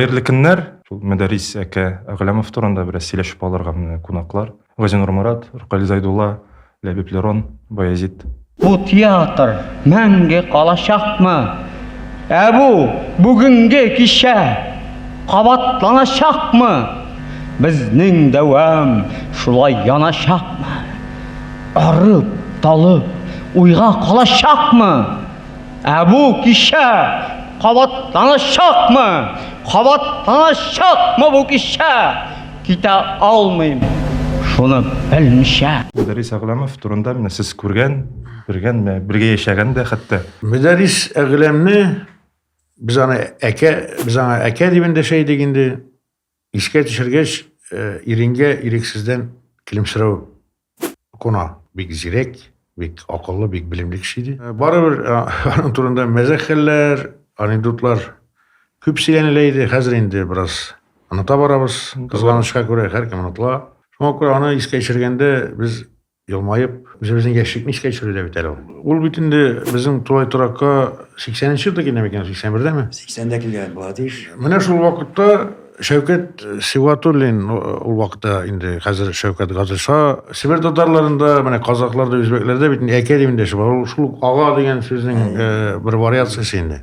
Хәерле көннәр! Шул Мәдәрис әкә Әгъләмов турында бераз сөйләшеп алырга менә кунаклар. Газинур Марат, Ркаль Зайдулла, Ләбиб Лерон, Баязит. Бу театр мәңге калачакмы? Ә бу бүгенге кичә кабатланачакмы? Безнең дәвам шулай яначакмы? Арып, талып, уйга калачакмы? Ә бу кичә кабатланачакмы? Кабатланачакмы бу кичә? Китә алмыйм, шуны белмичә. Мөдәррис Әгъләмов турында менә сез күргән, белгән, бергә яшәгән дә хәтта. Мөдәррис Әгъләмне без аны әкә, без аңа әкә дип эндәшә идек инде. Искә төшергәч, иренгә ирексездән көлемсерәү куна. Бик зирәк, бик акыллы, бик белемле кеше иде. Барыбер аның турында мәзәк хәлләр, анекдотлар күп сөйләнелә иде. Хәзер инде бераз оныта барабыз. Кызганычка күрә, һәркем онытыла. Шуңа күрә аны искә төшергәндә без Елмаеп, үзебезнең яшьлекне искә төшерде дә бит әле ул. Ул бит инде безнең тулай торакка 80 нче елда килгән микән, 81-дәме? 80-дә килгән була тиеш. Менә шул вакытта Шәүкәт Сибгатуллин, ул вакытта инде хәзер Шәүкәт Газыша, Себер татарларында, менә казакларда, үзбәкләрдә бит әкә дип эндәшеп, ул шул ук ага дигән сүзнең бер вариациясе инде.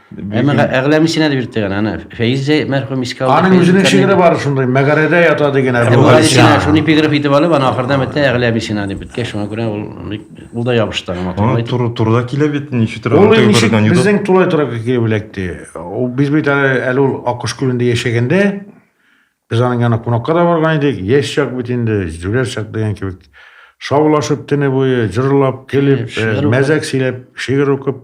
Әмма Бүген- әгъләмисенә дә бирттек аны. Аны Фәиз дә мәрхүм искә алды. Аның Фәиз үзенең Зөлкарнәй- шигыре бар шундый, мәгарәдә ята дигән Әбу Әбу Галисина. Галисина шуны эпиграф итеп алып, аны ахырда бетә әгъләмисена дип беткәч, шуңа күрә ул бик- ул да ябышты аңа. Аңа матурлай. туры турыда килә бит ничектер Ул артык ничек бердән йода. безнең тулай торак килеп эләкте. Ул- Без бит әле әле ул Аккош күлендә яшәгәндә, Без аның янына кунакка да барган идек. Яшь чак бит инде, җүләр чак дигән кебек. Шаулашып төне буе, җырлап, көлеп, э, мәзәк сөйләп, шигырь укып.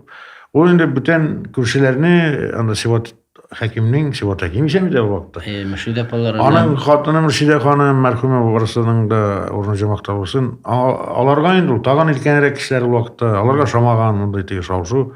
Ул инде бүтән күршеләрне, анда Сиват хәкимнең, Сиват хәким исән иде ул вакытта. Э, Мөршидә апалары. Аның хатыны Мөршидә ханым, мәрхүмә барысының да урыны җәмәгътә булсын. Аларга инде ул тагын илкәнрәк кешеләр ул вакытта. Аларга шамаган мондый теге шау-шу.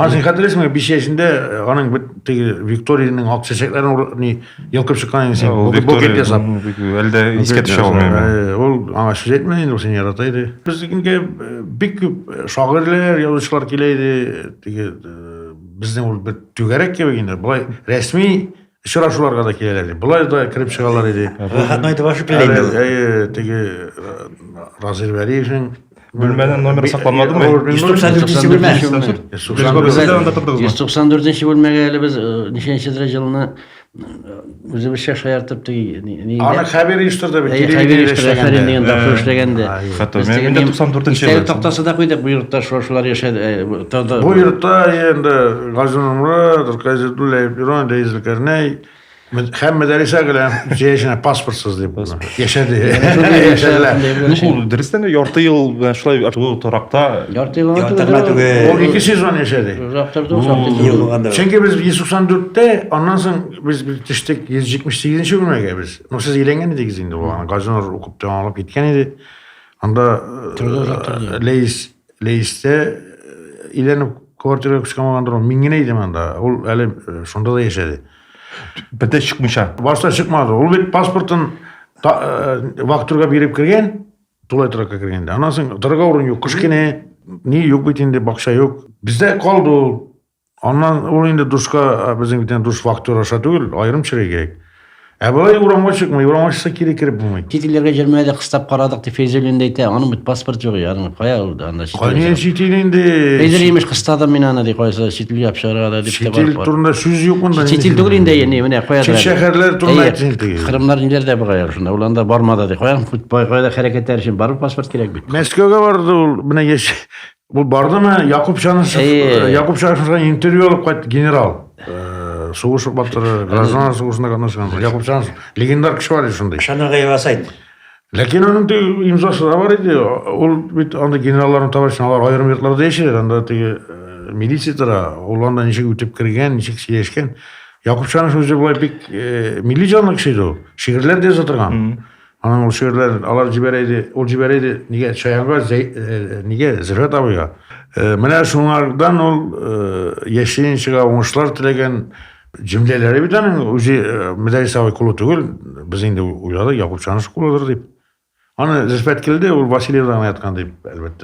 Аны син хәтерлисеңме, биш яшендә э, аның бит теге Викториянең ак чәчәкләрен ур- ни йолкып чыккан идең син. Ул букет- Букет Виктория, ясап. м, бик- Әлдә искә төшә ул миңа. Э, Ул аңа сүз әйтмә инде, ул сине ярата иде. Безнекегә э, бик күп э, шагыйрьләр, язучылар килә иде. Теге э, безнең ул бер түгәрәк кебек инде. Болай рәсми Очрашуларга да киләләр иде. Болай да кереп чыгалар иде. Рәхәтне әйтеп ашып килә инде. Әйе, теге Разил Вәлиевнең Бүлмәнең номеры сакланмадымы? 194 бүлмә. 194 бүлмәгә әле без ничәнче дәрә җылны үзебезчә шаяртып теге ни Аны хәбир оештырды бит. Хәбир оештырды дигән тапшыру эшләгәндә. Хәтта 94 ел. Тактасы да куйдык бу йортта шулар яшәде. Бу йортта енді Гази Нурмурат, Рукай Зәдуллаев, Ирон, Рәис Зөлкәрнәй, Һәм Мәдәрисә гелән җәяшенә паспортсыз дип яшәде. Яшәделәр. Ул дөрестән дә ярты ел белән шулай шул торакта. Ярты ел торма түгел. Ул ике сезон яшәде. Узактырды ул. Чөнки без 194-тә, аннан соң без төштек 178-нче бүлмәгә без. Ну сез өйләнгән идегез инде ул. Газинур укып тәмамлап киткән иде. Анда Лейс Лейстә әйләнеп квартирага күчкән булгандыр ул. Мин генә идем анда. Ул әле шунда да яшәде. Бите чыкмыйча. Башта чыкмады. Ул бит паспортын вахтурга биреп кергән, тулай торакка кергәндә. Аннан соң торырга урын юк. Кыш көне ни юк бит инде, бакча юк. Бездә калды ул. Аннан ул инде душка э, безнең бит душ фактура аша түгел, аерым чирай кирәк. Ә болай урамга чыкмый, урамга чыкса кире кереп булмый. Чит илләргә җөрмә дә кыстап карадык, дип Фәйзуллин дә әйтә. Аның бит паспорт юк, ягъни кая ул анда чит. Кая чит ил инде? Фәйзул имеш кыстадым мин аны, ди, кайсы чит илгә чыгарга да дип тә бар. Чит ил турында сүз юк монда. Чит ил түгел инде, яни менә кая. Чит шәһәрләр турында әйтсен инде. Кырымнар ниләрдә була яр шунда, уланда бармады, ди. Кая кая хәрәкәтләр өчен барып паспорт кирәк бит. Мәскәүгә барды ул, менә яшь Бу бардымы Якуб Чанышев, э, Якуб Чанышев белән интервью алып кайт генерал. Э, сугыш батыры, гражданлар сугышына катнашкан. Якуб Чанышев легендар кеше бар шундый. Шанага ясайт. Ләкин аның ди имзасы да бар иде. Ул бит анда генералларны табачын алар аерым йортларда яшәде. Анда теге э, милиция тора, ул анда ничек үтеп кергән, ничек сөйләшкән. Якуб Чанышев үзе булай бик милли җанлы кеше иде ул. Шигырьләр дә яза торган. Аның ул шигырьләрен алар җибәрә иде, ул җибәрә иде, нигә Чаянга, э, нигә Зөлфәт абыйга. Э, менә шуңардан ул э, яшенчега уңышлар теләгән җөмләләре бит аның үзе Мәдәрис абый кулы түгел, без инде уйладык, Якуб Чаныш кулыдыр дип. Аны Зөлфәт килде, ул Васильевда гына яткан дип, әлбәттә.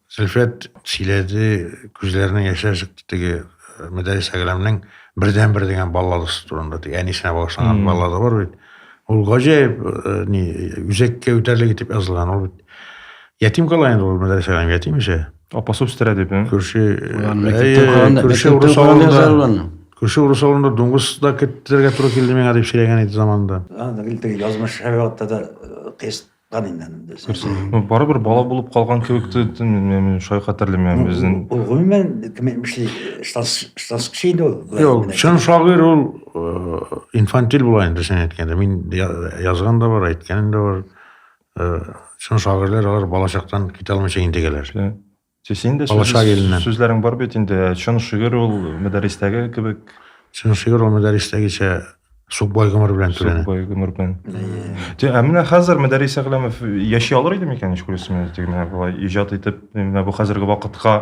Зөлфәт сөйләде, күзләренең яшьләр чыкты теге э, Мөдәрис Әграмның бердәнбер дигән балладасы турында. Теге әнисенә багышланган баллада бар бит. Ул гаҗәеп э, ни үзәккә үтәрлек итеп язылган. Ул бит ятим кала инде ул Мөдәрис Әграм ятим ишә. Апасы үстерә дип. Күрше күрше урыс авылында. Күрше урыс авылында дуңгыз да кеттерергә туры килде миңа дип сөйләгән иде заманында. Язмыш һәр вакытта да тест Бары бер бала булып калган кебек тә, мин шулай хәтерләмим безнең. Ул гомумән кем эшли, штанскчы инде ул. Юк, чын шагыйрь ул инфантиль була инде син әйткәндә. Мин язган да бар, әйткәнем дә бар. Чын шагыйрьләр алар балачактан китә алмыйча интегәләр. Син дә Алаша иленнән. Сүзләрең бар бит инде. Чын шигырь ул мәдәрестәге кебек. Чын шигырь ул мәдәрестәгечә Сукбай гомер белән түләнә. Сукбай гомер белән. Те, ә менә хәзер Мәдәрис Әгъләмов яши алыр иде микән, ич күрәсең, теге менә болай иҗат итеп, менә бу хәзерге вакытка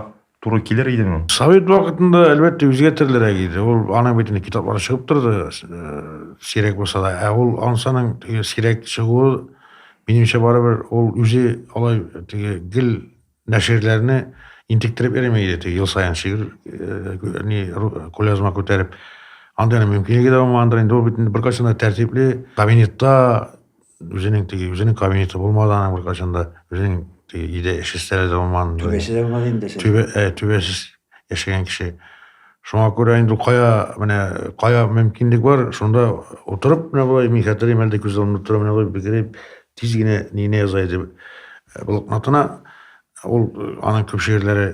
туры килер идеме? Совет вакытында, әлбәттә, үзгә төрлерәк иде. Ул аның бит инде китаплары чыгып торды, сирәк булса да. Ә ул ансаның теге сирәк чыгуы, минемчә, барыбер ул үзе алай теге гел Нәширләрне интектереп йөрми иде, теге ел саен шигырь э, ни кулязма күтәреп. Андый мөмкинлеге дә булмагандыр инде, ул бит инде беркайчан да тәртипле кабинетта үзенең теге үзенең кабинеты булмады аның беркайчан да үзенең теге өйдә эш өстәле дә булмаган. Түбәсе дә булмады инде. Түбә, ә, э, түбәсез яшәгән кеше. Шуңа күрә инде кая, менә кая мөмкинлек бар, шунда утырып менә болай, мин хәтерлим әле күз алдымда тора менә болай бигерәп тиз генә нигенә яза иде э, блокнотына. Ул э, аның күп шигырьләре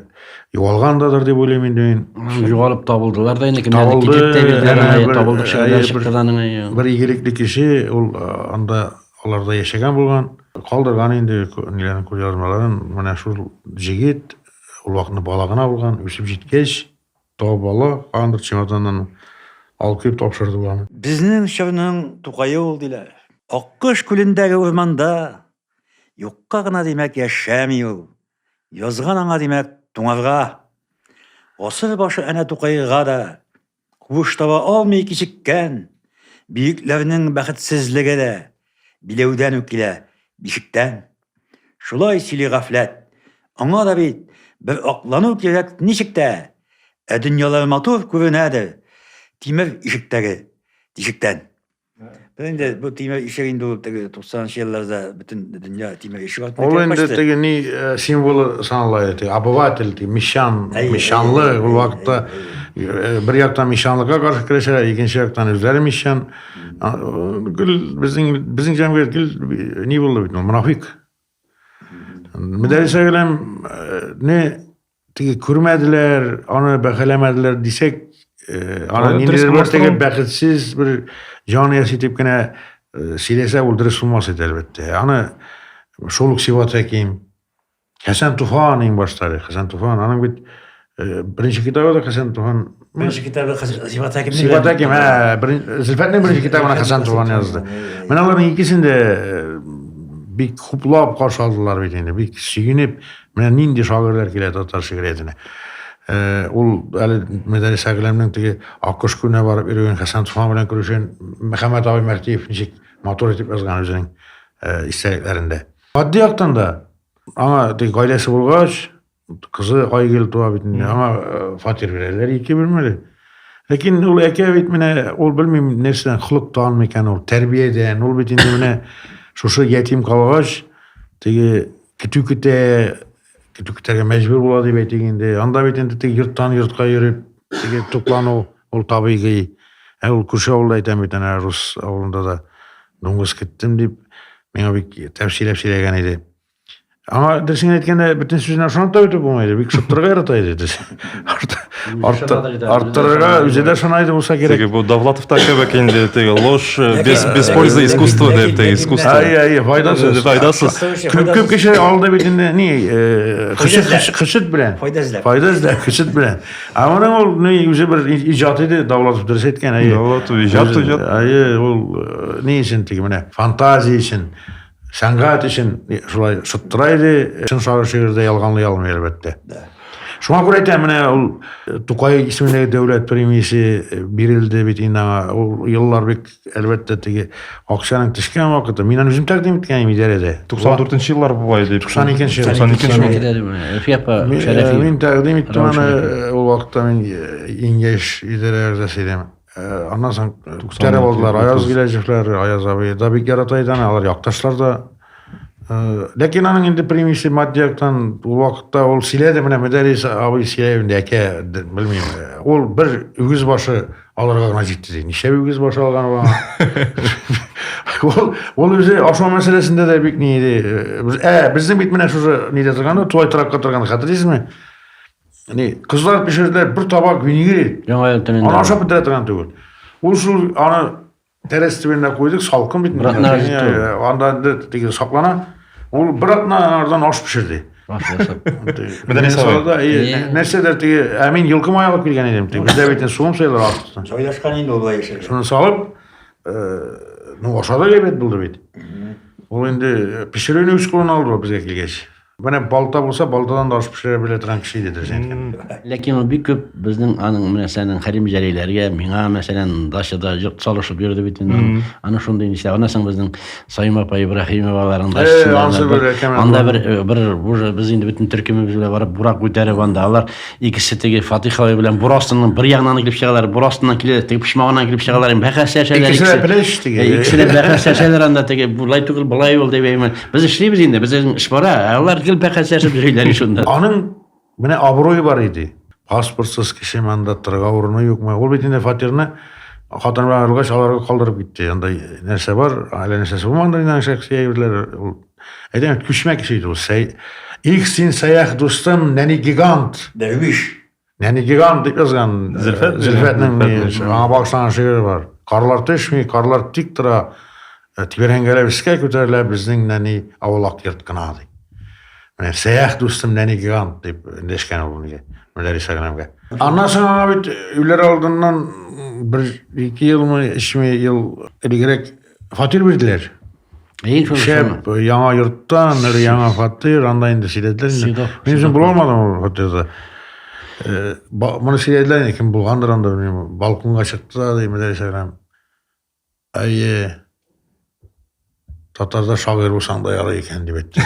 югалгандадыр дип уйлыйм инде мин. Югалып табылдылар да инде кемнәрдә китеп тә бирделәр, табылдык шигырьләр чыкты да аның. Бер игелекле кеше ул э, анда аларда яшәгән булган, калдырган инде ниләрен күз язмаларын. Менә шул җегет Ул вакытны бала гына булган, үсеп җиткәч, табып ала, һаман бер чемоданнан алып килеп тапшырды ул аны. Безнең чорның Тукае ул, диләр. Аккош күлендәге урманда юкка гына, димәк, яшәми ул. Язган аңа, димәк, туңарга. Гасыр башы әнә Тукайга да Куыш таба алмый кичеккән бөекләрнең бәхетсезлеге дә биләүдән үк килә, бишектән. Шулай сөйли гафләт. Аңа да бит бер аклану кирәк ничек тә, ә дөньялар матур күренәдер тимер ишектәге тишектән. Бу инде бу тимер ишек инде ул теге 90 елларда бөтен дөнья тимер ишек артында Ул инде теге ни э, символы санала иде. Обыватель, теге мещан, мещанлы ул вакытта э, бер яктан мещанлыкка каршы көрәшә, икенче яктан үзләре мещан. Гел безнең безнең җәмгыять гел э, ни булды бит, мунафик. Мөдәрисә белән не теге күрмәделәр, аны бәхәләмәделәр дисәк, э, аны Аны ниндидер бер теге бәхетсез бер җан яси дип кенә э, сөйләсә ул дөрес булмас иде әлбәттә. Аны шул ук Сиват Хәким, Хәсән Туфан иң башта, Хәсән Туфан, аның бит э, беренче китабы да Хәсән Туфан Беренче китабы Сифат Хәким. Сифат Хәким, ә, Зөлфәтнең беренче китабына Хәсән Туган язды. Менә аларның икесен дә э, бик хуплап каршы алдылар бит инде, бик сөенеп, менә нинди шагыйрьләр килә татар шигъриятенә. Э, ул әле Мәдәлис Әгъләмнең теге Аккош күнә барып йөргән Хәсән Туфан белән күрешен Мөхәммәд абый Мәхтиев ничек матур итеп язган үзенең э, истәлекләрендә. Матди яктан да аңа теге гаиләсе булгач, Кызы Айгөл туа бит инде. Аңа э, фатир бирәләр ике бүлмәле. Ләкин ул әкә бит менә ул белмим нәрсәдән холык танмый икән ул тәрбиядән. Ул бит инде менә шушы ятим калгач теге көтү көтә, көтү көтәргә мәҗбүр була дип әйтик инде. Анда бит инде теге йорттан йортка йөреп теге туклану ул табигый. Ә ул күрше авылда әйтәм бит әнә рус авылында да дуңгыз кеттем дип миңа бик тәфсилләп сөйләгән иде. Аңа дөресен әйткәндә, бөтен сүзенә ышанып та бетеп булмайды. Бик шыттырга ярата иде дөрес. Арттырырга үзе дә ышана иде булса кирәк. Теге бу Давлатовта кебек инде теге ложь э, без без пользы искусство дип теге искусство. Ай ай файдасыз. Файдасыз. Күп күп кеше алды бит инде ни э, хышыт белән. Файда эзләп. Файда эзләп хышыт белән. Ә моның ул ни үзе бер иҗат иде Давлатов дөрес әйткән. Давлатов иҗат иҗат. Ай ул э, ни өчен теге менә фантазия өчен. Сәнгать өчен шулай шыттыра иде, чын шагыйрь шигырьдә ялганлый алмый әлбәттә. Шуңа күрә әйтәм, менә ул э, Тукай исемендәге дәүләт премиясе э, бирелде бит инде аңа. Ул еллар бик әлбәттә теге акчаның төшкән вакыты. Мин аны үзем тәкъдим иткән идем идарәдә. 94 еллар була иде. 92 нче 92 нче э, Мин тәкъдим иттем аны ул вакытта мин иң яшь идарә әгъзасы идем. Э, аннан соң күтәреп э, алдылар аяз киләчәкләр аяз абый да бик ярата иде аны алар якташлар да э, ләкин аның инде примеси матди яктан ул вакытта ул сөйләде менә мөдәрис абый сөйләй инде әкә белмим ул бер үгез башы алырга гына җитте ди ничә үгез башы алган ул ул ул үзе ашау мәсьәләсендә дә бик ни иде ә безнең бит менә шушы нидә торган тулай торакка торган хәтерлисезме Әни, кызлар пешерделәр бер табак винегри. Яңа ел төнендә. Аны ашап бетерә торган түгел. Ул шул аны тәрәз төбенә куйдык, салкын бит. Анда теге саклана. Ул бер атна ардан аш пешерде. Нәрсәдер теге, ә мин йолкыма алып килгән идем. Бездә бит суым сыйлар артысын. Җайлашкан инде ул яшәгән. яшәгән. Шуны салып, ну ашады ләбәт булды бит. Ул инде пешерүне үз кулына алды безгә килгәч. Менә балта булса, балтадан да аш пешерә белә торган кеше иде дөрес әйткәндә. Ләкин ул бик күп безнең аның менә сәнең Хәрим Җәлиләргә, миңа мәсәлән дачада йорт салышып йөрде бит инде. Аны шундый нишлә, ана соң безнең Саим апа Ибраһимоваларның дачасында. Анда бер бер уже без инде бөтен төркемебез белән барып бурак күтәреп анда алар икесе теге Фатих абый белән бур астыннан бер ягыннан килеп чыгалар, бур астыннан килә, теге почмагыннан килеп чыгалар, бәхәс чәчәләр. Икесе дә плеш теге. Икесе дә бәхәс чәчәләр анда теге, болай түгел, болай ул дип әйме. Без эшлибез инде, безнең эш бара, ә алар гел бәхәс ясап йөриләр шунда. Аның менә абруе бар иде. Паспортсыз кеше монда торырга урыны юкмы? Ул бит инде фатирны хатын белән аерылгач аларга калдырып китте. Анда нәрсә бар, әллә нәрсәсе булмады инде шәхси әйберләр. Ул әйдәм күчмә кеше иде ул. Сәй... Их син сәях дустым, нәни гигант. Дәрвиш. Нәни гигант дип язган Зөлфәт Зөлфәтнең аңа багышланган шигыре бар. Карлар төшми, карлар тик тора, э, тибәрәнгәләп искә күтәрелә безнең нәни авылак йорт кына ди. Менә сәях дустым нәни гигант дип дәшкән ул безгә. Мөдәррис аграмга. Аннан соң аңа бит өйләр алдыннан бер ике елмы, өчме ел элегрәк фатир бирделәр. Ей шо шәп яңа йортта, мер яңа фатир, анда инде сөйләделәр инде. Мин үзем була алмадым ул фатирда. Э, моны сөйләделәр инде, кем булгандыр анда, белмим. Балконга чыкты ди Мөдәр Шәгрәм. Әйе. Татарда шагыйрь булсаң да ярый икән дип әйтте.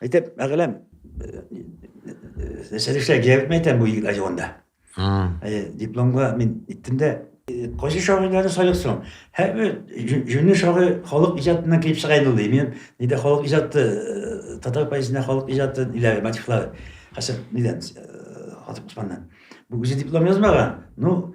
Әйтәм, әгъләм, нәрсә эшләр кирәкме әйтәм бу егетләр җавында. Дипломга мин иттем дә, кайсы шагыйрьләрне сайлыйк соң? Һәрбер җүнле шагыйрь халык иҗатыннан килеп чыга инде ул ди. Мин нидә халык иҗаты, татар поэзиясендә халык иҗаты ниләр, мотивлар, хәсәп нидән, Хатып Усманнан. Бу үзе диплом язмаган. Ну,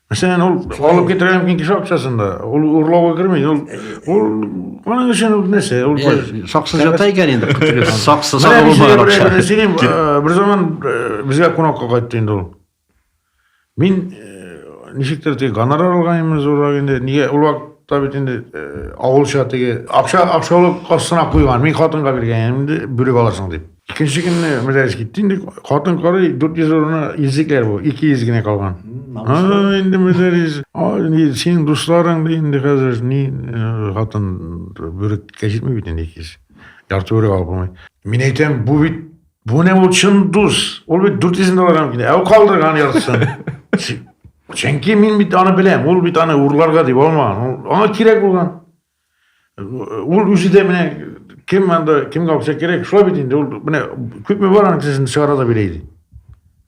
Мәсәлән, ул алып китерә мөмкин кеше акчасын да. Ул урлауга керми. Ул ул аның өчен ул нәрсә? Ул саксы жата икән инде. Саксы саксы булмаган акча. Бер заман безгә кунакка кайтты инде ул. Мин ничектер теге гонорар алганмын зуррак инде. Нигә ул вакытта бит инде авылча теге акча акчалы кассына куйган. Мин хатынга биргән инде, бүрек аласың дип. Икенче көнне мәҗлес китте инде. Хатын карый, 400 урыны изекләр бу, 200 генә калган. А, инде мәҗлес. А, ни, синең дусларың да инде хәзер ни э, хатын бүреккә җитми бит инде 200. Ярты бүрек алып булмый. Мин әйтәм, бу бит бу не ул чын дус. Ул бит 400 долларга килә. Ә ул калдырган яртысын. Чи- Чөнки мин бит аны беләм. Ул бит аны урларга дип алмаган. Ул- Аңа кирәк булган. Ул үзе дә менә кем анда кемгә акча кирәк, шулай бит инде. Ул менә күпме бар аның кесәсен чыгара да бирә иде.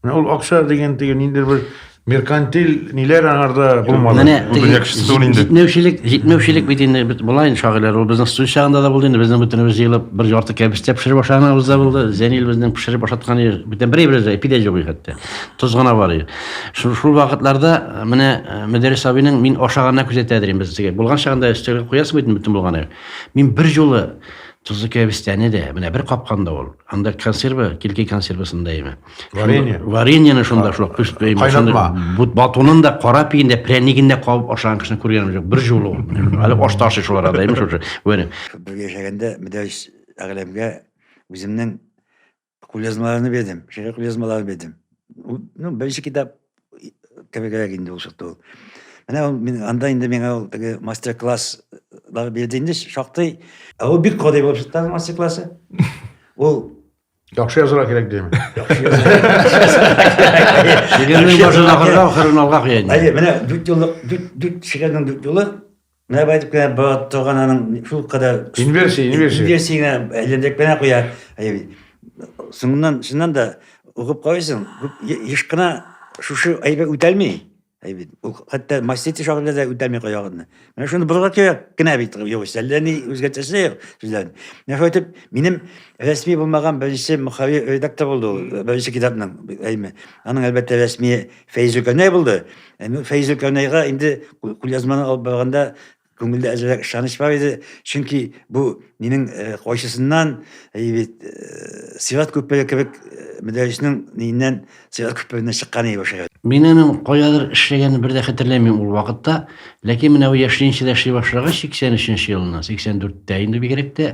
Менә ул акча дигән теге ниндидер бер меркантил ниләр аңарда булмады. Менә Ул дөнья кешесе түгел инде. Җитмәүчелек, җитмәүчелек бит инде бит болай инде шагыйрьләр. Ул безнең студент чагында да булды инде. Безнең бөтенебез җыелып бер ярты кәбестә пешереп ашаганыбыз да булды. Зәнил безнең пешереп ашатканы бөтен бер әйбер дә пидә җугый хәтта. Тоз гына бар иде. Шул, шул вакытларда э, менә э, Мөдәррис абыйның мин ашаганына күзәтә дирем без теге. Булган чагында өстәгә куясың бит бөтен булганы. Мин бер юлы тозлы кәбестәне дә менә бер капканда ул. Анда консерва, килки консервасында име. Варенье. Вареньены шунда шул кыш бәйме. Кайнатма. Бут батунын да кара пиен дә прянигин дә кабып ашаган кешене күргәнем юк. Бер юлы ул. Әле аш ташы шул арада име шушы. Вәне. Бергә яшәгәндә Мөдәррис әгъләмгә үземнең Кулъязмаларны бирдем, шигырь кулъязмаларын бирдем. Ну, беренче китап кебегрәк инде ул чыкты ул. Менә ул мин анда инде миңа ул теге мастер-класслар бирде инде шактый. Ә ул бик кадый булып чыкты мастер-классы. Ул Яхшы язырга кирәк дим. Шигырьнең башын ахырга, ахырын алга куя инде. Әйе, менә дүрт юллык, дүрт дүрт шигырьнең дүрт юлы Менә бу әйтеп кенә бара торган аның шул кадәр Инверсия, инверсия. инверсия генә әйләндереп кенә куя. Әй, Соңыннан чыннан да укып карыйсың, күп е- еш кына шушы әйбер үтәлми. Әй бит, ул хәтта мастити шагыйрьдә дә үтәлми каягынны. Менә шуны борырга кирәк кенә бит югыйсә, әллә ни үзгәртәсе дә юк сүзләрен. Менә шулай итеп, минем рәсми булмаган беренче мөхавир редактор булды ул, беренче китапның, әйме. Аның, әлбәттә, рәсми Фәйзелкәнәй булды. Әмма Фәйзелкәнәйгә инде кулъязманы алып барганда күңелдә әзрәк ышаныч бар иде, чөнки бу минем кайсысыннан бит Сират күпере кебек мәдәрисенең ниеннән Сират күпереннән чыккан иде башы. Мин аның кайдадыр эшләгәнен бер дә хәтерләмим ул вакытта, ләкин менә бу яшьләрчә эшли башлагач, 83 нче елыннан, 84 тә инде бигрәк тә,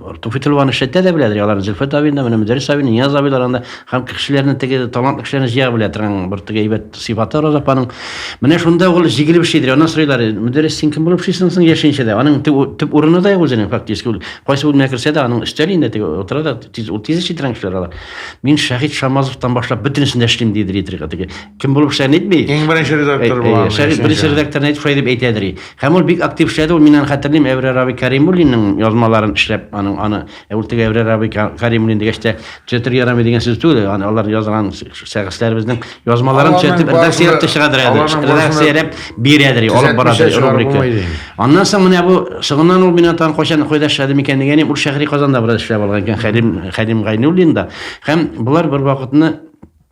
Туфи Тылван эшләтә дә беләдер, аларны Зөлфәт абин да, менә Мөдәррис абин, Нияз абилар анда һәм кешеләрне теге талантлы кешеләрне җыя белә торган бер теге әйбәт сыйфаты Роза апаның. Менә шунда ул җигелеп эшлидер. Аннан сорыйлар, Мөдәррис, син кем булып эшлисең соң яшенчә дә? Аның төп урыны да юк үзенең фактически. Ул кайсы бүлмәгә керсә дә, аның өстәл инде теге утыра да, тиз ул тиз эшли торган кешеләр алар. Мин Шәһит Шамазовтан башлап бөтенесен дә эшлим дидер итергә теге. Кем булып эшләгәнен әйтми. Иң беренче редактор булган. Шәһит беренче редакторны әйтеп шулай дип әйтәдер. Һәм ул бик актив эшләде, ул миннән хәтерлим, Әүрәр абый Кәримуллинның язмаларын эшләп, аның аны, ә ул теге Әүрәр абый Кәримуллин дигәч тә, төзәтергә ярамый дигән сүз түгел, аны алар язган шәхесләребезнең язмаларын төзәтеп, редакцияләп тә чыгардыр әле, редакцияләп бирәдер, алып барадыр рубрика. Аннан соң менә бу соңыннан ул миннән тагын кайчан кайда эшләде микән дигәнем, ул шәһри Казанда бераз эшләп алган икән, Хәлим Хәлим Гайнуллин да. Һәм болар бервакытны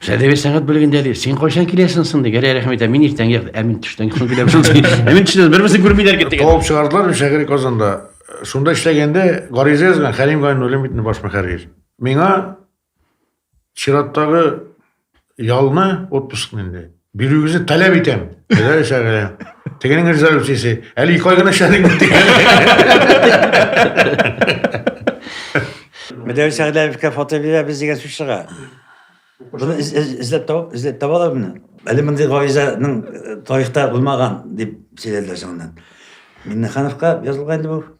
Сәдәбе сәгать бүлегендә ди, син кайчан киләсең соң ди, гәрәй рәхмәт, ә мин иртән гәр, ә мин төштән соң киләм шул ди. Ә мин төштән бермесен күрмиләр китте. Куып чыгардылар мин шәһри Казанда. Шунда эшләгәндә гариза язган Хәлим Гайнуллин бит баш мөхәррир. Миңа чираттагы ялны отпускны инде. Бирүегезне таләп итәм. Әгәр эшләгә. Тегенең резолюциясе. Әле ике ай гына эшләдек бит. Мәдәви Сәгъдәевка фото бирәбез дигән сүз чыга. Буны эзләп табып, эзләп табалар буны. Әле мондый гаризаның э, тарихта булмаган дип сөйләделәр соңыннан. Миннехановка язылган инде бу.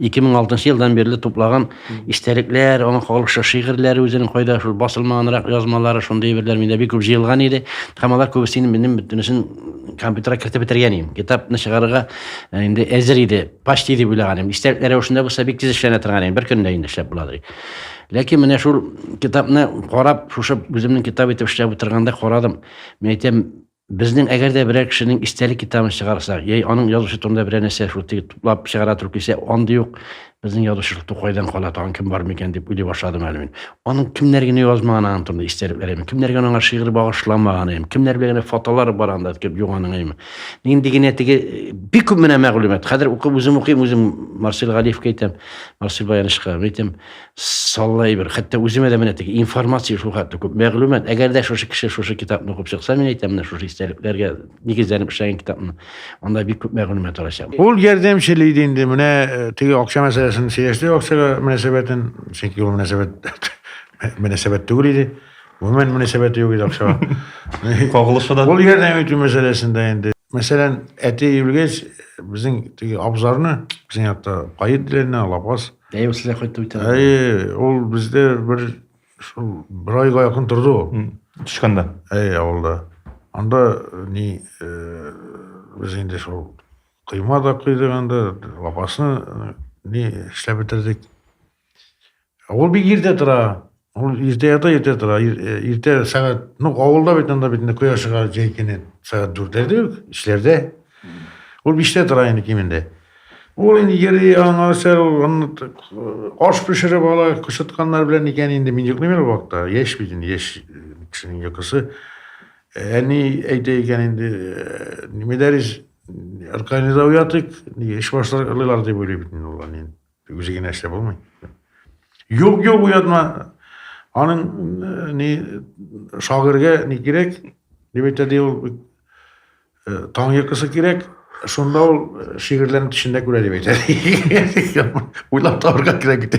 2006 елдан бирле туплаган истәлекләр, аның халыкча шигырьләре үзенең кайда шул басылмаганрак язмалары, шундый әйберләр миндә бик күп җыелган иде. Һәм алар күбесен минем бөтенесен компьютерга кертеп бетергән идем. Китапны чыгарырга э, инде әзер иде, почти дип уйлаган идем. Истәлекләр рәвешендә булса бик тиз эшләнә торган идем, бер көндә инде эшләп буладыр. Ләкин менә шул китапны карап, шушы үземнең китап итеп эшләп утырганда карадым. Мин әйтәм, Безнең әгәр дә берәр кешенең истәлек китабын чыгарсак, яй аның язучы турында берәр нәрсә шутый туплап чыгара торып килсә, андый ук безнең язучылык тукайдан кала, тагын кем бар микән дип уйлый башладым әле мин. Аның кемнәр генә язмаган аның турында истәлекләр әйме, кемнәр генә аңа шигырь багышламаган әйме, кемнәр белән генә фотолары бар анда дип юганың әйме. Нинди генә теге э, бик күп менә мәгълүмат. Хәзер укып үзем укыйм, үзем Марсель Галиевка әйтәм, Марсель Баянышка әйтәм. Саллы әйбер. Хәтта үземә дә менә теге информация шул хәтле күп. Мәгълүмат, әгәр дә шушы кеше шушы китапны укып чыкса, мин әйтәм, менә шушы истәлекләргә нигезләнеп эшләгән китапны, анда бик күп мәгълүмат алачак. Ул ярдәмче лиде инде, менә э, теге акча мәсьәләсен сөйләште, акчага мөнәсәбәтен, чөнки ул мөнәсәбәт мөнәсәбәт түгел иде. Гомумән мөнәсәбәте юк иде акчага. Кагылышы да. Ул ярдәм итү мәсьәләсендә инде Мәсәлән, әти үлгәч, безнең теге абзарны, безнең якта каен диләрне, алапас. Әйе, сездә кайтып үтә. Әйе, ул бездә бер шул бер айга якын торды ул. Тышканда. Әйе, авылда. Анда э, ни э, без инде шул койма да койдык анда, лапасны э, ни эшләп бетердек. Ул бик иртә тора. Ул иртә ята, иртә тора. Иртә э, сәгать, ну, авылда бит анда бит инде коя чыга җәй көне сәгать дүртләрдә үк, эшләрдә. Ул биштә тора инде кимендә. Ул инде йөри, аңа сәл аш пешереп ала, кычытканнар белән икән инде мин йоклыйм әле вакытта. Яшь бит инде, яшь кешенең йокысы. Әни әйтә икән инде, медәрис, организоватик, эш башлар, лылар дип уйлый бит инде ул әнин. Үзе генә эшләп булмый. Юк, юк, уятма. Аның э, ни шагырьгә ни кирәк? Дип әйтә ди ул. Э, таң йокысы кирәк. Шунда ул э, шигырьләрен төшендә күрә дип әйтә. Уйлап табарга кирәк бит.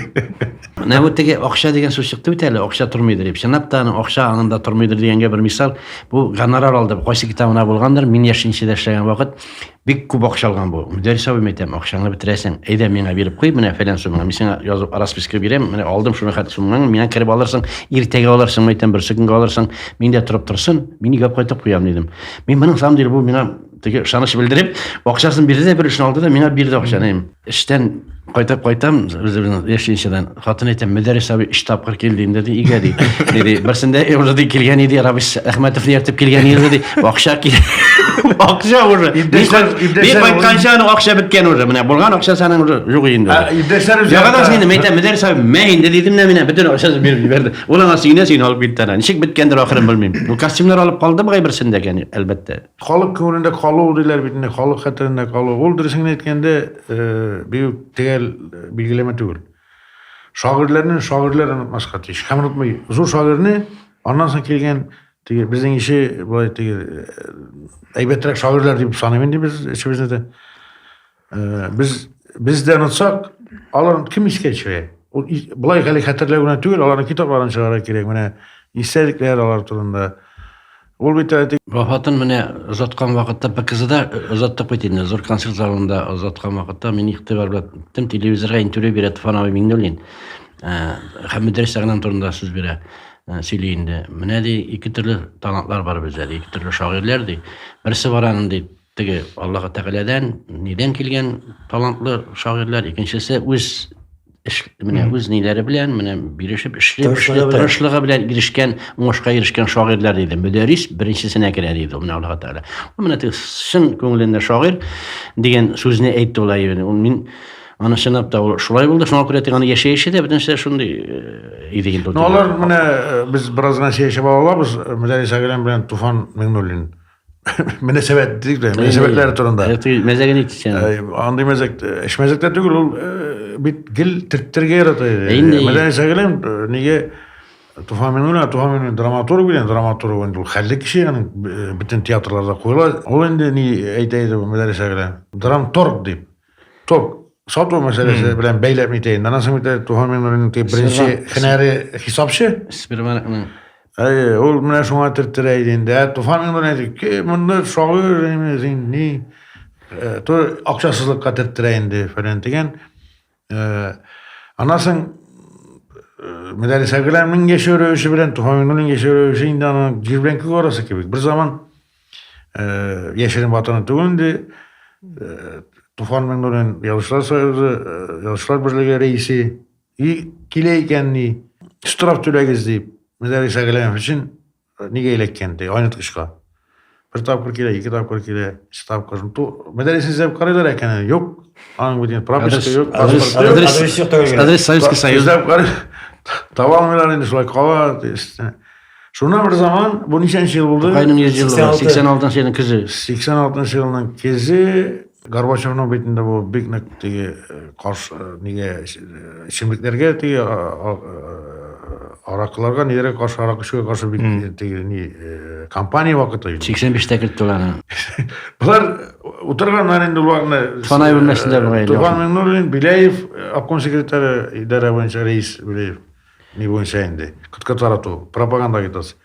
Менә бу теге акча дигән сүз чыкты бит әле, акча тормыйдыр дип. Чынлап та аның акча аңында тормыйдыр дигәнгә бер мисал. Бу гонорар алды. Кайсы китабына булгандыр, мин яшенчедә эшләгән вакыт Бик күп акча алган бу. Мөдәррис абыйм әйтәм, акчаңны бетерәсең. Әйдә миңа биреп куй, менә фәлән сумма. Мин сиңа язып расписка бирәм, менә алдым шуны хәт суммаңны, миңа кереп алырсың, иртәгә алырсың, әйтәм, берсе көнгә алырсың. Мин дә торып торсын, мин игәп кайтып куям дидем. Мин моның самом деле бу миңа теге ышаныч белдереп, акчасын бирде дә бер эшне алды да миңа бирде акчаны. Эштән кайтып кайтам, үзебезнең яшенчәдән. Хатын әйтә, Мөдәррис абый өч тапкыр килде инде ди, өйгә ди. Диде, берсендә уже ди килгән иде, Рабис Әхмәтовны ертып килгән иде ди. Акча кил. Акча уже. Бик кайтканча аның акча беткән уже. Менә булган акча саның уже юк инде. Иптәшләр үзе. Яңадан сине мәйтә, Мөдәррис абый, мә инде дидем дә менә бөтен акчасын биреп җибәрде. Ул аңа сөенә-сөенә алып китте. Ничек беткәндер ахырын белмим. Бу костюмнар алып калды бугай берсендә, әлбәттә. Халык күңелендә калу диләр бит инде, халык хәтерендә калу. Ул дөресен генә әйткәндә, бик үк төгәл билгеләмә түгел. Шагыйрьләрне шагыйрьләр онытмаска тиеш. Һәм онытмый. Зур шагыйрьне аннан соң килгән теге безнең ише болай теге әйбәтрәк шагыйрьләр дип саныйм инде без эшебезне дә. Э, без бездән онсак, алар кем искә төшерә? Ул былай гали хәтерләү генә түгел, аларның китапларын чыгарга кирәк. Менә истәлекләр алар турында. Ул бит әле вафатын менә озаткан вакытта ПКЗда э, озаттык бит инде. Зур концерт залында озаткан вакытта мин игътибар белән тем телевизорга интервью бирә Туфановый Миңнуллин. Э, һәм Мөдрис Сәгънам турында сүз бирә. Э, сөйли инде. Менә ди, ике төрле талантлар бар бездә, ике төрле шагыйрьләр ди. Берсе баран ди, Теге Аллаһы Тәгаләдән, нидән килгән талантлы шагыйрьләр, икенчесе үз эш менә үз ниләре белән менә бирешеп эшли эшли тырышлыгы белән ирешкән уңышка ирешкән шагыйрьләр диде мөдәрис беренчесенә керә диде менә аллаһ тәгалә ул менә теге чын күңелендә шагыйрь дигән сүзне әйтте ул әйберне ул мин аны чынлап та ул шулай булды шуңа күрә тик аны яшәеше дә бөтенесе шундый э, иде инде ну алар менә э, без бераз гына сәяшәп алабыз э, мөдәрис әгәрәм белән туфан миңнуллин мөнәсәбәт дик дә мөнәсәбәтләре турында мәзәге ник сен андый мәзәк эш мәзәктә түгел ул бит гел төрттергә ярата инде мәдәни сәгелем нигә Туфан Минуллин, Туфан Минуллин драматург белән драматург инде ул хәлле кеше, аны бөтен театрларда куела. Ул инде ни әйтә иде бу мәдрәсә белән. Драмторг дип. Ток, сату мәсьәләсе белән бәйләп итәйен. Аннан соң бит туган минем беренче һөнәре хисапчы. Сбербанкның Әйе, ул менә шуңа төрттерә иде инде. Ә Туфан гына әйтте, ки, монда шагыйрь инде син ни? Э, то акчасызлыкка төрттерә инде фәлән дигән. Э, Анасын э, Медалис Аграмның яшәү рәвеше белән Туфан гына яшәү рәвеше инде аның җир белән күк арасы кебек. Бер заман Э, яшерен ватаны түгел инде э, туфан миңнуллин язучылар союзы э, язучылар берлеге рәисе и килә икән ни штраф түләгез дип мөдәррис әгәләмов өчен нигә эләккән ди айнытгычка бер тапкыр килә ике тапкыр килә өч тапкыр мөдәррисне эзләп карыйлар икән юк аның бүтән прописка юк адрес советский союз таба алмыйлар инде шулай кала Шуннан бер заман, бу ничәнче ел булды? Тукайның 100 елы, 86 елның көзе. 86 елның көзе Горбачевның битендә бу бик нык теге э, каршы э, нигә эчемлекләргә э, теге аракыларга нигә каршы арак эчүгә каршы бик теге ни компания вакыты иде. 85-тә кертте аларны. Болар утырганнар инде уларны. Фанай бүлмәсендә булган. Туфан Миннуллин, Беляев, обком секретаре, идарә буенча рәис Беляев. Ни буенча инде? Кытка тарату, пропаганда агитация.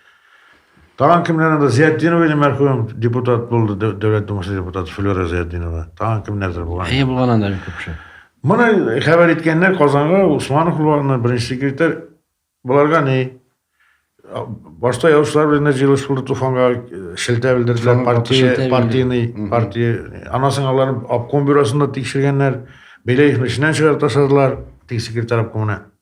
Тагын кемнәр анда? Зиятдинова иде мәрхүм депутат булды, Дәү- Дәүләт Думасы депутаты Флюра Зиятдинова. Тагын кемнәрдер булган. Әйе булган анда бик күп кеше. Моны хәбәр иткәннәр Казанга, Усманов булган, беренче секретарь. Боларга ни? А, Башта язучылар белән дә җыелыш булды Туфанга, э, шелтә белдерделәр, Туфанга шелтә партия, бирде. партийный, Мгм. партия. Аннан соң аларны обком бюросында тикшергәннәр, Беляевны эшеннән чыгарып ташладылар, теге секретарь обкомны.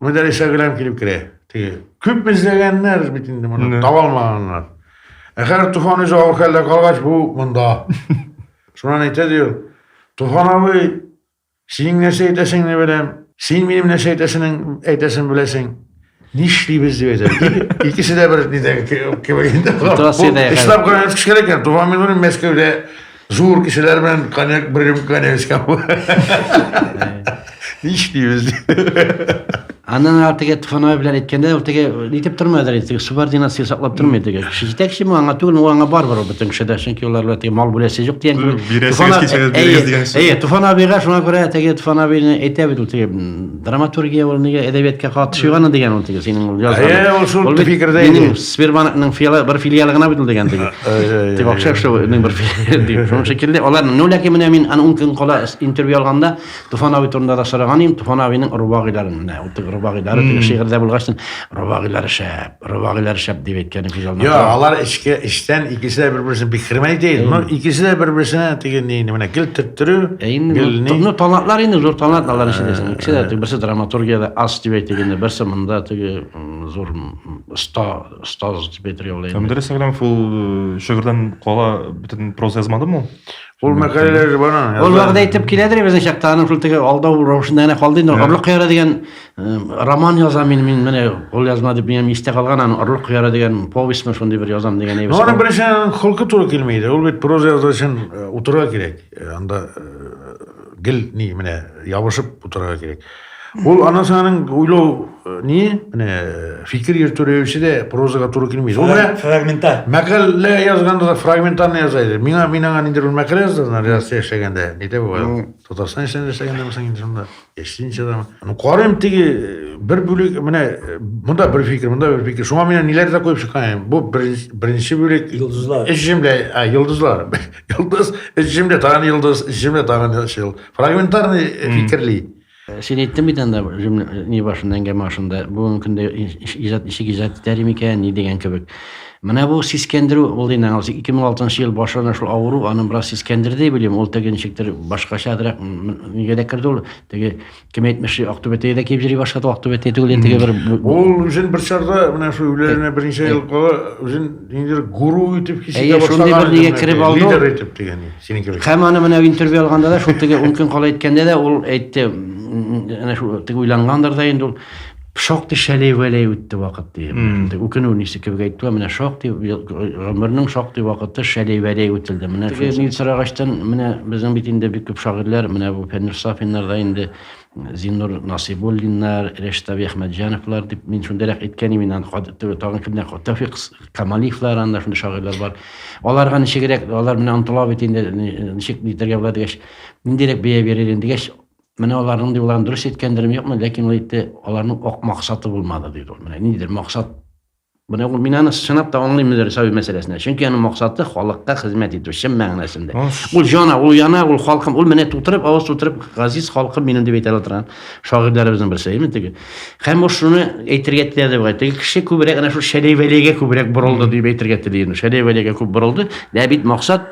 Мөдәр ишәгеләм килеп керә. Теге. Күп эзләгәннәр бит инде моны, Менә. таба алмаганнар. Ә хәзер Туфан үзе авыр хәлдә калгач, бу монда. Шуннан әйтә ди ул, Туфан абый, синең нәрсә әйтәсеңне беләм, син минем нәрсә әйтәсенең әйтәсен беләсең. Нишлибез дип әйтә. Ике- Икесе дә бер нидә кебек инде. Тутас иде, Бу Эшләп кенә эш кирәк икән. Туфан Минуллин Мәскәүдә Зур кешеләр белән коньяк бер рюмка коньяк эчкән. Нич дибез. Аннан ары теге Тфанай белән әйткәндә, ул теге нитеп тормадыр инде, теге субординация саклап тормый теге. Кеше җитәкче бу аңа түгел, ул аңа барбар ул бөтен кешедә, чөнки улар белән теге мал бүләсе юк дигән кебек. Бирәсегез Туфан а- кичәгә, әйе, бирегез дигән сүз. Әйе, Туфан абыйга шуңа күрә теге Туфан абыйны әйтә бит ул теге м, Драматургия ул нигә әдәбиятка катышы гана дигән ул теге синең ул язган. Әйе, ул шул фикердә иде. Минем Сбербанкның филиалы бер филиалы гына бит ул дигән теге. Дип акча эшләүнең бер филиалы дип. Шуның шикелле алар ну ләкин менә мин аны ун көн кала интервью алганда Туфан абый турында да сораган идем. Туфан абыйның рубагыйларын менә ул теге рубагыйлары теге шигырьдә булгач, рубагыйлары шәп. Рыбагилар шәп дип әйткән ике җаннар. Йо, алар эчке эчтән икесе дә бер-берсен бик хөрмәт итә. Но икесе дә бер-берсенә теге ни менә гел төрттерү. Ә инде ну, ну талантлар инде зур талант алар эчендә. Ә, икесе дә ә. берсе драматургиядә аз дип әйтик инде, берсе монда теге зур оста, остаз дип әйтергә була инде. Һәм дөрес әгрәм фул э, шигырьдән кала бөтен проза язмадымы? Ул мәкаләләр дә бар аны. Ул вәгъдә итеп киләдер безнең чакта, аның шул теге алдау рәвешендә генә калды инде. Орлык кыяры дигән э, роман язам мин, мин менә ул язма дип минем истә калган, аны орлык кыяры дигән повестьмы шундый бер язам дигән әйбер. Аны беренче холкы туры килми иде. Ул бит проза язу өчен э, утырырга кирәк. Э, анда гел ни менә ябышып утырырга кирәк. Ул аннан соң аның уйлау э, ни, менә э, фикер йөртү рәвеше дә прозага туры килми. Ул менә фрагментар. Мәкалә язганда да фрагментарны яза иде. Миңа мин аңа ниндер бер мәкалә яздым, Россия яшәгәндә. Нидә бу? Татарстан эчендә яшәгәндә мисаң инде шунда. Яшенчә да. Ну, карыйм теге э, бер бүлек, менә монда бер фикер, монда бер фикер. Шуңа мин ниләр дә куеп чыккан. Бу беренче бүлек йолдызлар. Эш җимле, а, йолдызлар. Йолдыз, эш җимле, тагын йолдыз, эш җимле, тагын Фрагментарный фикерли. Син әйттең бит анда ни башында әңгәмә башында бүгенге көндә иҗат ничек иҗат итәр микән ни дигән кебек. Менә бу сискәндерү ул инде 2006 ел башында шул авыру аны бераз сискәндерде белем ул теге ничектер башкачарак нигә дә керде ул теге кем әйтмешли актүбәтәгә дә килеп йөри башлады актүбәтә түгел инде бер ул үзен бер чорда менә шул үләренә берничә ел кала үзен ниндидер гуру итеп хис итә башлаган шундый бер нигә кереп алды лидер итеп дигән Синең кебек. Һәм аны менә интервью алганда да шул теге ун көн кала әйткәндә дә ул әйтте, әнә шул теге уйлангандыр да инде ул шактый шәләй вәләй үтте вакыт ди. Үкенү нисе кебек әйтте ва менә шактый гомернең шактый вакыты шәләй вәләй үтелде. Менә шул мин сорагачтан менә безнең бит инде бик күп шагыйрьләр менә бу Фәннур Сафиннар да инде Зиннур Насыйбуллиннар, Рәштави Әхмәтҗановлар дип мин шундыйрак әйткән имен, аны тагын кемнәр, Тәүфик Камалиевлар, анда шундый шагыйрьләр бар. Аларга ничегрәк, алар менә онтыла бит инде, ничек нитергә була дигәч, ниндирәк бәя бирер инде дигәч, менә аларның ди уларын дөрес әйткәндерме, юкмы, ләкин ул әйтте, аларның ак максаты булмады, диде ул. Менә ниндидер максат Менә ул мин аны чынлап та аңлыйм инде Рисави мәсьәләсендә. Чөнки аның максаты халыкка хезмәт итү чын мәгънәсендә. Ул җана, ул яна, ул халкым, ул менә тутырып, авыз тутырып газиз халкым минем дип әйтә торган шагыйрьләребезнең берсе, әйеме теге. Һәм ул шуны әйтергә теләде бугай. Теге кеше күбрәк әнә шул Шәләй-Вәләйгә күбрәк борылды дип әйтергә тели инде. Шәләй-Вәләйгә күп борылды. Лә бит максат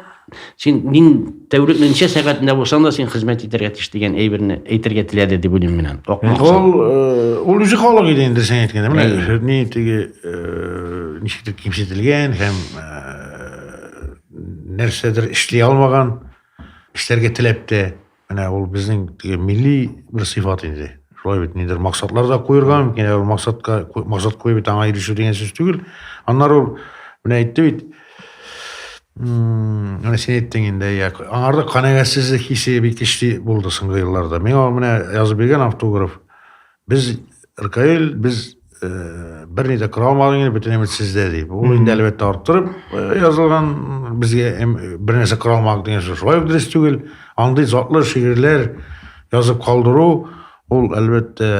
син мин тәүлекне ничә сәгатендә булсаң да син хезмәт итәргә тиеш дигән әйберне әйтергә теләде дип уйлыйм мин аны ул э, ул үзе халык иде инде сен әйткәндә менә ни теге э, ничектер кимсетелгән һәм э, нәрсәдер эшли алмаган эшләргә теләп тә Менә ул безнең милли бер сыйфат инде. Шулай бит, нидер максатлар да куерга мөмкин, ә ул максатка максат куеп бит аңа ирешү дигән сүз түгел. Аннары ул менә әйтте бит. Менә син әйттең инде, я, аңарда канәгатьсезлек хисе бик көчле булды соңгы елларда. Миңа менә язып биргән автограф Без Ркаил без бер ни дә кыра алмадык инде, бөтен өмет сездә дип. Ул инде әлбәттә арттырып язылган, безгә бер нәрсә кыра алмадык дигән сүз шулай ук дөрес түгел. Андый затлы шигырьләр язып калдыру ул әлбәттә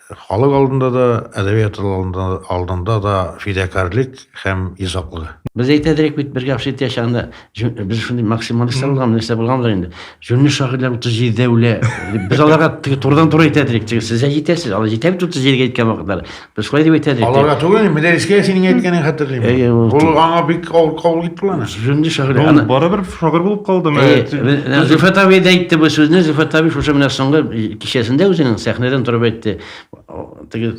халык алдында да, әдәбият алдында, алдында да фидакарлык һәм изаклык. Без әйтәдерик бит бер гәп шит яшәгәндә, Без шундый максималистлар булган, нәрсә булган да инде. Җүнле шагыйрьләр 37 дә үлә. Без аларга турыдан туры әйтә идек, теге сез дә җитәсез, алар җитә бит 37 гә әйткән вакытлар. Без шулай дип әйтә идек. Аларга түгел, Медәрискә синең әйткәнең хәтерлим. Ул аңа бик авыр кабул итте аны. Җүнле шагыйрь. Ул барыбер шагыйрь булып калды менә. Зифат абый да әйтте бу сүзне, Зифат абый шушы менә соңгы кичәсендә үзенең сәхнәдән торып әйтте. теге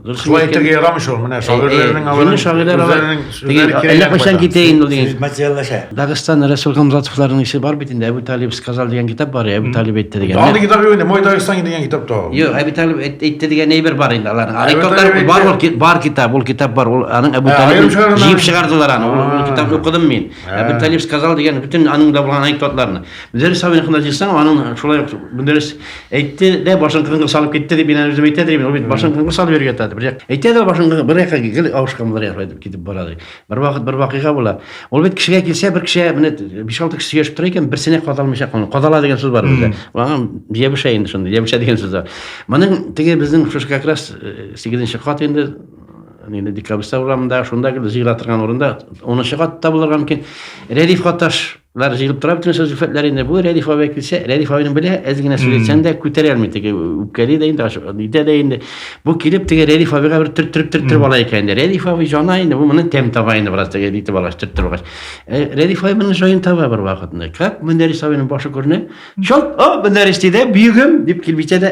дөрес шулай әйтергә ярамый шул менә шагыйрьләрнең аларның шагыйрьләр алар әллә кайчан китә инде ул дигән материаллаша дагыстан рәсүл хамзатовларның ише бар бит инде әбу талиб сказал дигән китап бар әбу талиб әйтте дигән андый китап юк инде мой дагыстан дигән китап та юк әбу талиб әйтте дигән әйбер бар инде аларның арикотлар бар ул бар китап ул китап бар ул аның әбу талиб җыеп чыгардылар аны ул китапны укыдым мин әбу талиб сказал дигән бөтен аның да булган анекдотларны мөдәррис абыйныкына җыйсаң аның шулай мөдәррис Әйтте дә башын кыңгыр салып китте дип мин үзем әйтә дим. Ул бит башын кыңгыр салып йөргән тады. Бер әйтә дә башын кыңгыр бер якка гел авышкан булыр якка дип китеп бара ди. Бер вакыт бер вакыйга була. Ул бит кешегә килсә, бер кешегә менә 5-6 кеше сөйләшеп тора икән, берсенә кадалмыйча калган. Кадала дигән сүз бар бездә. Аңа ябыша инде шундый, ябыша дигән сүз бар. Моның теге безнең шушы как раз 8 кат инде инде декабрьстә урамында, шунда гел зыйра торган урында, 10 кат та булырга мөмкин. Рәдиф Каташ Лар җыелып тора бөтен шул зөлфәтләр инде. Бу Рәдиф абый килсә, Рәдиф абыйның белә, әз генә сөйләсәң дә күтәрә алмый теге үпкәли дә инде, нитә дә инде. Бу килеп теге Рәдиф абыйга бер төрттереп төрттереп ала икән инде. Рәдиф абый җана инде, бу моны тәм таба инде бераз теге итеп алгач, төрттереп алгач. Э, Рәдиф абый моны җаен таба бер вакытны. Как Мөнәрис абыйның башы күренә. Чалт, о, Мөнәрис диде, бөегем, дип килеп җитә дә,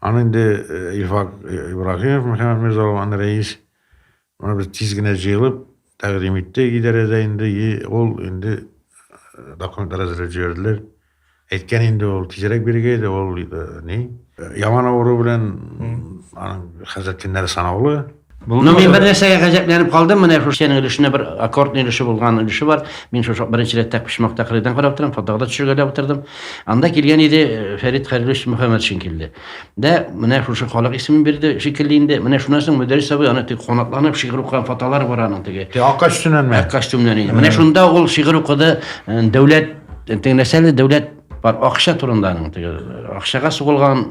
Аны инде э, Илфак э, Ибрагимов, Мөхәммәд Мирзалов, аны рәис, аны без тиз генә җыелып, тәкъдим иттек идарәдә инде, и ул инде э, документлар әзерләп җибәрделәр. Әйткән инде ул тизрәк бирергә иде, ул э, ни, яман авыру белән аның хәзер көннәре санаулы. Ну, мин бер нәрсәгә гаҗәпләнеп калдым, менә шушы синең өлешенә бер аккордный өлеше булган өлеше бар. Мин шушы беренче рәттә почмак тәкърирдән карап торам, фотога да төшергә дә утырдым. Анда килгән иде э, Фәрит Хәлилович Мөхәммәтшин килде. Дә менә шушы халык исемен бирде, шикелле инде. Менә шуннан соң Мөдәрис абый аны тик канатланып шигырь укыган фотолар бар аның теге. Те ак костюмнан ме? Ак костюмнан инде. Менә шунда ул шигырь укыды, э, дәүләт э, теге нәрсәле дәүләт Бар акча турынданың теге акчага сугылган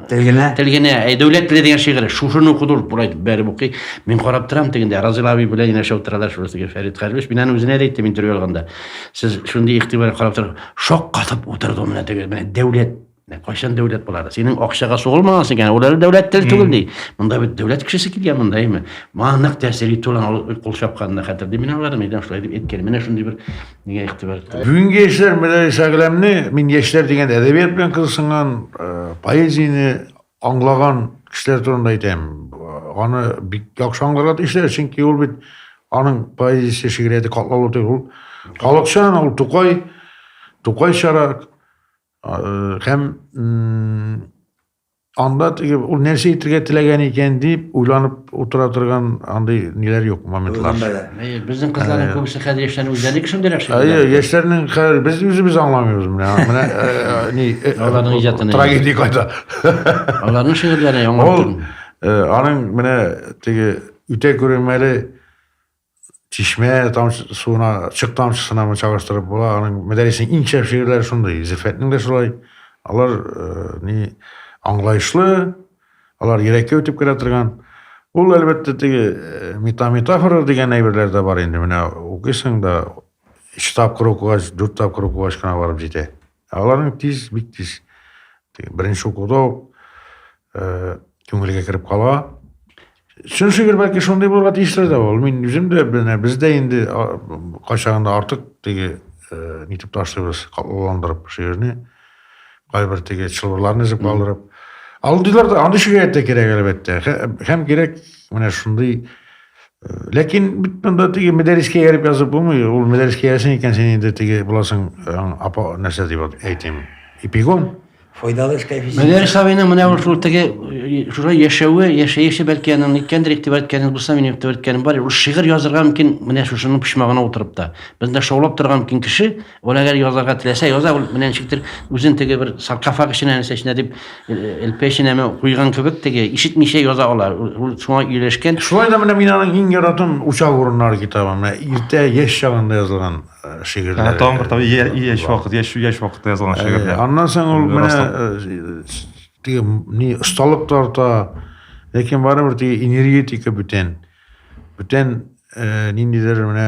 Телгенә. Телгенә. Әй, дәүләт теле дигән шигырь. Шушыны укыды ул бурай бәреп укый. Мин карап торам тегендә. Разил абый белән генә шау торалар шул теге Фәрит Хәрлүш. Мин аны үзенә дә әйттем интервью алганда. Сез шундый игътибар карап торып, шок катып утырды ул менә теге. Менә дәүләт. Менә кайчан дәүләт булар? Синең акчага сугылмаган икән. Ул әле дәүләт тел түгел ди. Монда бит дәүләт кешесе килгән монда име? Маңнык тәсири тулан кул чапканны хәтерлим. Мин аларны мидән шулай дип әйткән. Менә шундый бер Нигә игътибар иттегез? Бүгенге яшьләр Мирали Сәгъләмне мин яшьләр дигән әдәбият белән кызыксынган, э, поэзияне аңлаган кешеләр турында әйтәм. Аны бик яхшы аңларга тиешләр, чөнки ул бит аның поэзиясе шигърияте катлаулы түгел. Ул халыкчан, ул Тукай, Тукай чара э, һәм Анда теге ул нәрсә әйтергә теләгән икән дип уйланып утыра торган андый ниләр юк моментлар. Безнең кызларның э. күбесе хәзер яшьләрне үзләре кешендерәк шул. Әйе, яшьләрнең хәзер без үзебез аңламыйбыз менә. Менә э, э, ни аларның иҗатын. Трагедия кайда. Аларның шигырьләре яңа. Ул аның менә теге үтә күренмәле чишмә тамчы, суына, чык тамчысына мы чагыштырып була. Аның мәдәрисенең иң шәп шигырьләре шундый. Зифәтнең дә шулай. Алар э, ни аңлаешлы, алар йөрәккә үтеп керә торган. Ул әлбәттә теге э, метаметафора дигән әйберләр дә бар инде. Менә укыйсың да, өч тапкыр укыгач, дүрт тапкыр укыгач кына барып җитә. Ә аларның тиз, бик тиз беренче укуда ук э, күңелгә кереп кала. Чын шигырь бәлки шундый булырга тиешле дә ул. Мин үзем дә менә бездә инде кайчагында артык теге э, нитеп ташлыйбыз, катлауландырып шигырьне. Кайбер теге чылбырларны өзеп калдырып. Алдыйлар да андый шигырь дә кирәк әлбәттә. Һәм кирәк менә шундый Ләкин бит монда теге мәдәрискә ярып язып булмый. Ул мәдәрискә ясен икән син инде теге буласың апа нәрсә дип әйтим. Эпигон. Файдалы эшкә физик. Мәдәрис абыйның менә ул шул теге шулай яшәве, яшәеше бәлки аның ниткәндер игътибар иткәне булса, минем игътибар иткәнем бар. Ул шигырь язырга мөмкин, менә шушының почмагына утырып та. Бездә шаулап торган мөмкин кеше, Ул әгәр язарга теләсә, яза, ул менә ничектер үзен теге бер саркофаг эченә нәрсә эченә дип элпә эченә куйган кебек теге ишетмичә яза ала. Ул шуңа ияләшкән. Шулай да менә мин аның иң яратам Учак урыннары китабы. Менә иртә яшь чагында язылган шигырьләр. Ә тагын бер тау яшь вакыт, яшь яшь вакытта язылган шигырьләр. Аннан соң ул менә теге ни осталык тарта, ләкин барыбер теге энергетика бүтән. Бүтән ниндидер менә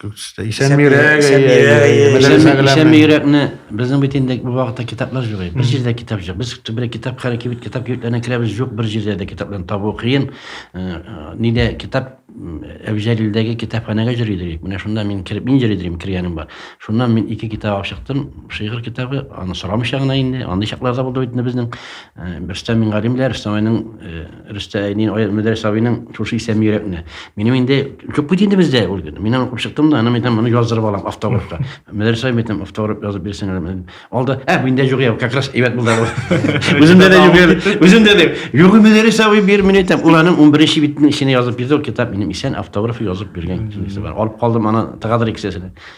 Исәнме йөрәкне безнең бит инде бу вакытта китаплар юк. Бер җирдә китап юк. Без бер китап хәрәкәт кибет китап кибетләренә керәбез юк. Бер җирдә дә китапларны табу кыен. Нидә китап Әбҗәлилдәге китапханәгә җөри идек. Менә шунда мин кереп мин җөри идем кергәнем бар. Шуннан мин ике китап алып чыктым. Шигырь китабы, аны сорамыйча гына инде. Андый чакларда булды бит инде безнең Рөстәм Мингалимләр, Рөстәм Мингалимнең Рөстә әйнин Аят Мөдәрис абыйның шушы исәме йөрәкне. Минем инде күп бит инде бездә ул көн. Мин аны укып чыктым да, аны әйтәм, моны яздырып алам автографка. Мөдәрис абый әйтәм, автограф язып бирсен. Алда, ә бу инде юк, как раз әйбәт булды. Үземдә дә юк, үземдә дә. Юк Мөдәрис абый бир, мин әйтәм, ул аның 11-нче битенең эченә язып бирде, ул китап минем исән автографы язып биргән китабы бар. Алып калдым аны тагадыр икесен.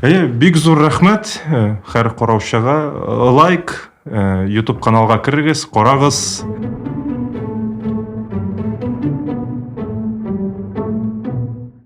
Әйе, бик зур рәхмәт һәр э, караучыга. Э, лайк, э, YouTube каналга керегез, карагыз.